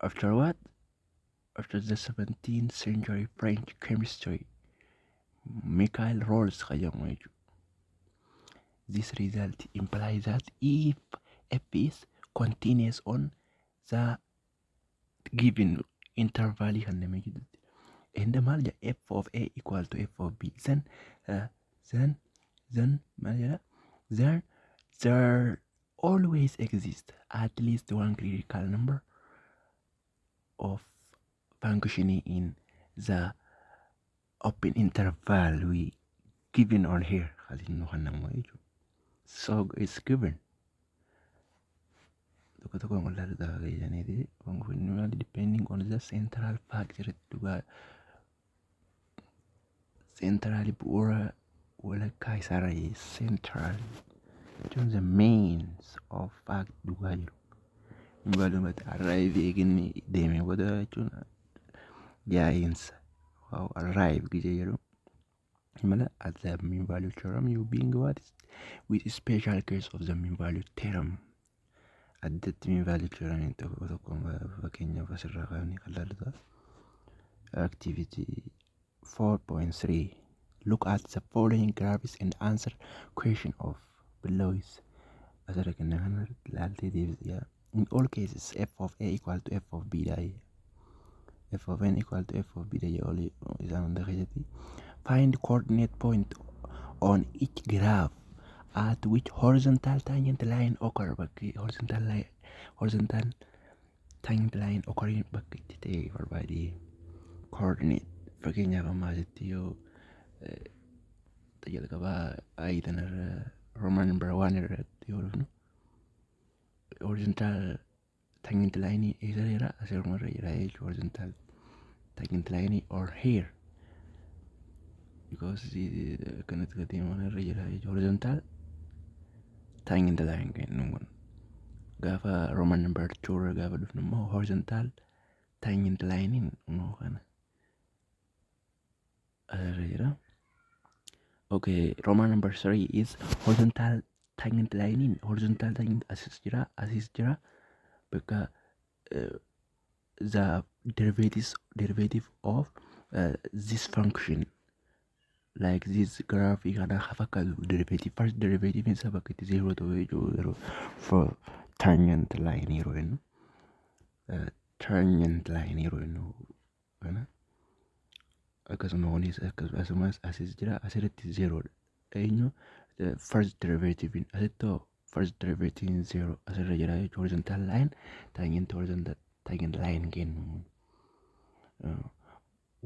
after what after the 17th century french chemistry michael rolls kan jedhamu jechuudha this result implies that if f is continuous on the given interval kan namni jedhutti and maal jedha f of a equal to f of b then uh, then then maal jedha there there always exist at least one critical number of functioning in the open interval we given on here halinnu kan namu jechuudha so it's given tokko tokko mul'atu gaafa keessaniiti function depending on the central factor dhugaa Seentiraali bu'uura walakkaa isaarra seentiraali jechuun the means of fact dhugaa jiru. Balumatti arrive eeginni deemee booda jechuun yaa'iinsa waaw arrive gijee jedhu. Mala as the mean value theorem you being what is with special case of the mean value theorem addatti mee vaalii kiranii tokko tokkoon fakkeenyaaf asirraa kaanii kan laaludha. Activity 4.3 Look at the following graphs and answer question of below is asirra kenna kana laaltee deebisiyaa. In all cases f of a equal to f of b dha. f of n equal to f of b dha jedhu olii isaan hunda keessatti find coordinate point on each graph at which horizontal tangent line occur bakki horizontal line horizontal tangent line occur bakka itti ta'e barbaade coordinate fakkeenyaaf amma asitti yoo jalqabaa ayii tanarra roman number one irratti yoo dhufnu horizontal Tangent line eegaleera asirma irra jira jechuudha horizontal tangent line or hair because akkanatti gadi mana irra jira jechuudha horizontal tangent line kennu kun gaafa roman number two irra gaafa dhufnu immoo horizontal tangent line in immoo kana Asirra jira. Okay, Roman number three is horizontal tangent line in horizontal tangent asis jira, asis jira. Bakka uh, the derivatives derivative of uh, this function like this graph kana ha fakkaatu derivative first derivative isa bakka itti zero ta'u jechuu yeroo for tangent line yeroo jennu uh, tangent line yeroo jennu kana akkasuma kunis akkasumas asis jira asirratti zeeroodha eenyu first derivative asitti first derivative zero asirra jira jechuudha horizontal line tangent horizontal tangent line kennu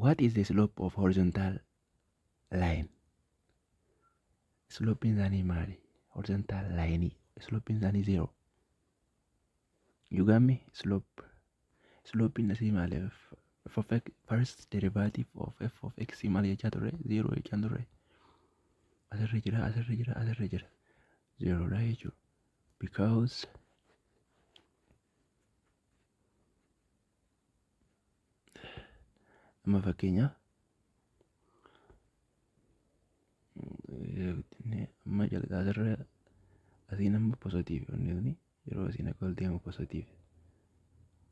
what is the slope of horizontal line slope isaanii maali horizontal line slope isaanii zero you got me slope Slooppiin asii maali? F of x first derivative of f of x maal jechaa turre? Zero jechaa turre. Asirra jira, asirra jira, asirra jira. Zero dha jechuudha. Because amma fakkeenyaaf amma jalqaba asirra asiin amma positiivi onni kuni yeroo isin akka ol deemu positiif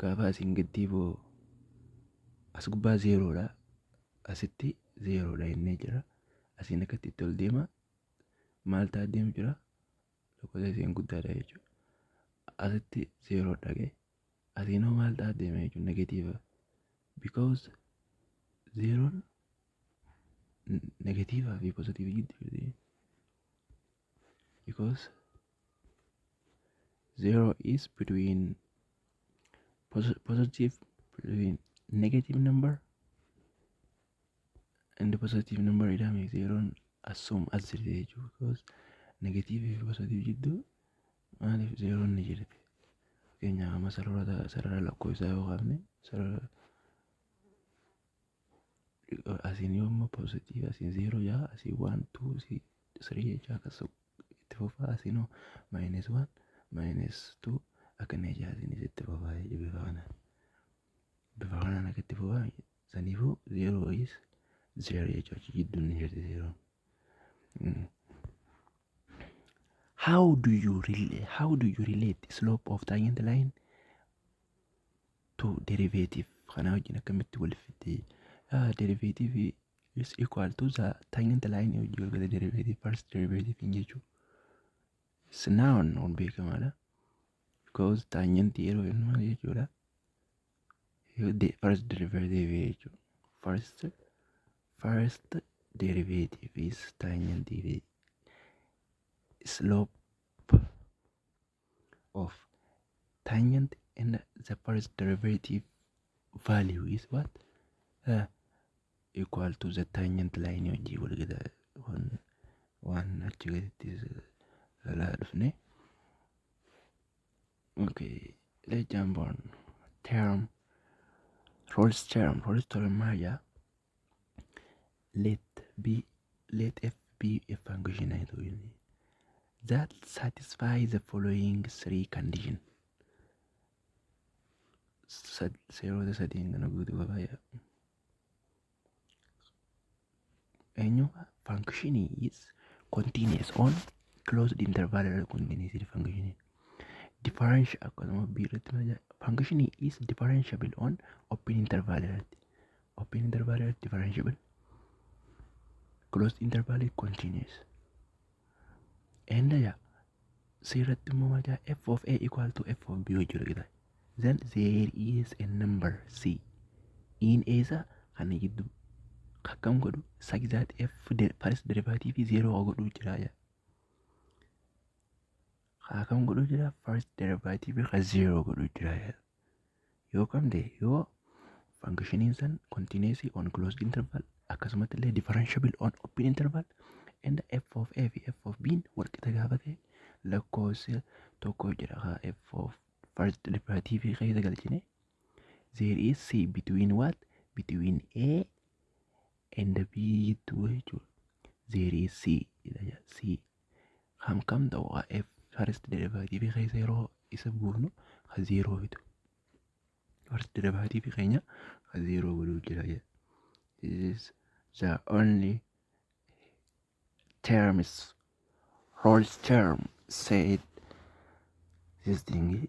gaafa isin giddii boo as gubbaa zeeroodha asitti zeeroodha innee jira asiin akkatti itti ol deema maal ta'a deemu jira lakkoofsa isiin guddaadha jechuudha asitti zeeroodha ga'e asiin hoo maal ta'a deema jechuudha negatiiva because zeeroon negatiivaa fi positiivii gidduu because zero is between posi- positive between negative number and the positive number idame zeroon assume as jirti jechuudha because negative fi positive jidduu maaliif zeroon ni jirti fakkeenyaaf amma sarara sarara lakkoofsaa yoo kaafne sarara asiin yoo amma positive asiin zeeroo jaa asiin waan tuu si sirii jechaa akkas itti fufaa asiin hoo maayinees waan maayinees tuu akkana jechaa asiinis itti fufaa jechuudha bifa kanaan bifa kanaan akka itti fufaa saniifuu zeeroo is zeeroo jechaa achi gidduun ni jirti zeeroon. How do you relate? How do you relate slope of tangent line to derivative kana wajjin akkamitti wal fidde uh, derivative is equal to the tangent line wajjin wal gala derivative first derivative hin jechuu is noun on beekamaadha because tangent yeroo jennu maal jechuudha the first derivative jechuu first first derivative is tangent slope of tangent and the first derivative value is what uh, equal to the tangent line wajjii walgita waan waan achi gaditti laa dhufne okay let's jump on term Rolls term Rolls term maal jaa let b let f be a function haa ta'u jenne that satisfy the following three condition Sad- seerota sadeen kana guutuu qaba yaa eenyu function is continuous on closed interval irra continuous function differential akkasuma b irratti function is differentiable on open interval irratti Open interval is differentiable. Closed interval is continuous. Enda ya seeratti immoo maal jedha f of a equal to f of b yoo jiru jedha. Then there is a number c in a isa kana gidduu akkam godhu such that f de- first derivative fi zero haa godhu jira jedha. Akkam godhu jira first derivative ka zero godhu jira jedha. yoo qabde yoo fankishiniin san kontiineesii on closed interval akkasumatti illee differentiable on open interval and f of a fi f of b walqixa gaafa ta'e lakkoofsa tokko jira haa f of first derivative keessa galchine there is c between what between a and b to jechuudha there is c jedha jedha. c Kan kam ta'u haa f first derivative keessa yeroo isa buufnu ka zeeroo fidu. First derivative keenya ka zeeroo godhuu jira jedha. This is the only terms Rolls term said this thing